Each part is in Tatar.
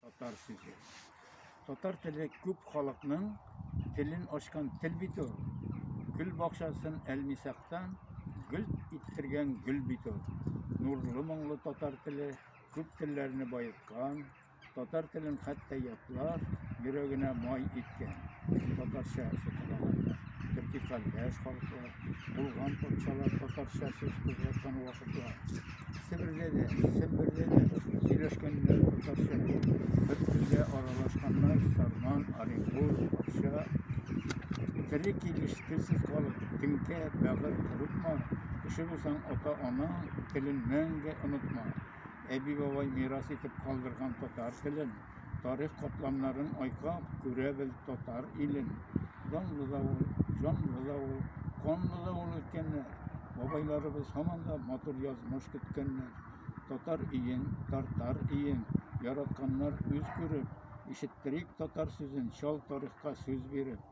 Татар сүзе. Татар теле күп халыкның телен ачкан тел бит ул. Гөл бакчасын әлмисактан гөл иттергән гөл бит ул. Нурлы моңлы татар теле күп телләрне байыткан, татар телен хәтта ятлар йөрәгенә май иткән. Татарча сөтелаганда төрки кардәш халыклар, Булган патшалар татарча сүз кузгаткан вакытта Себердә дә, Сембердә дә сөйләшкәннәр татарча. Бер телгә аралашканнар Сарман, Оренбур, Акча. Тере килеш телсез калып, теңкә, бәгырь корытма. Кеше булсаң, ата-ана телен мәңге онытма. Әби-бабай мирас итеп калдырган татар телен тарих катламнарын айкап, күрә бел татар илен. Данлы да ул, җанлы да ул, канлы да ул үткәннәр. Бабайларыбыз һаман да матур язмыш көткәннәр. Татар иен, тартар иен, яратканнар үз күреп, ишеттерик татар сүзен, чал тарихка сүз биреп.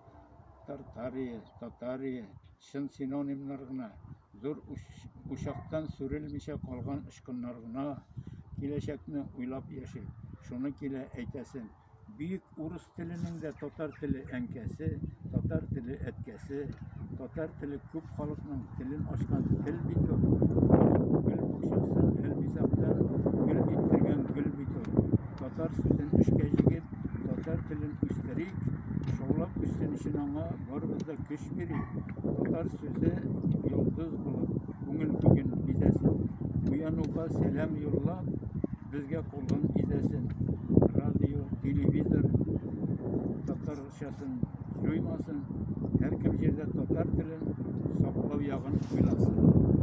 Тартария, татария, Чын синонимнар гына, зур учактан сүрелмичә калган очкыннар гына, киләчәкне уйлап яши. Шуны килә әйтәсем, бөек урыс теленең дә татар теле әнкәсе, татар теле әткәсе, татар теле күп халыкның телен ачкан тел бит ул. Гөл бакчасын гел бизәктән гөл иттергән гөл бит ул. Татар сүзен эшкә җигеп, татар телен үстерик, шаулап үссен өчен аңа Барыбызда көч бирә. Татар сүзе йолдыз булып, күңел бүген бизәсен. Уянуга сәлам юллап, безгә кулын изәсен. Радио, телевизор татарчасын җуймасын, һәркем җирдә татар телен саклау ягын уйласын.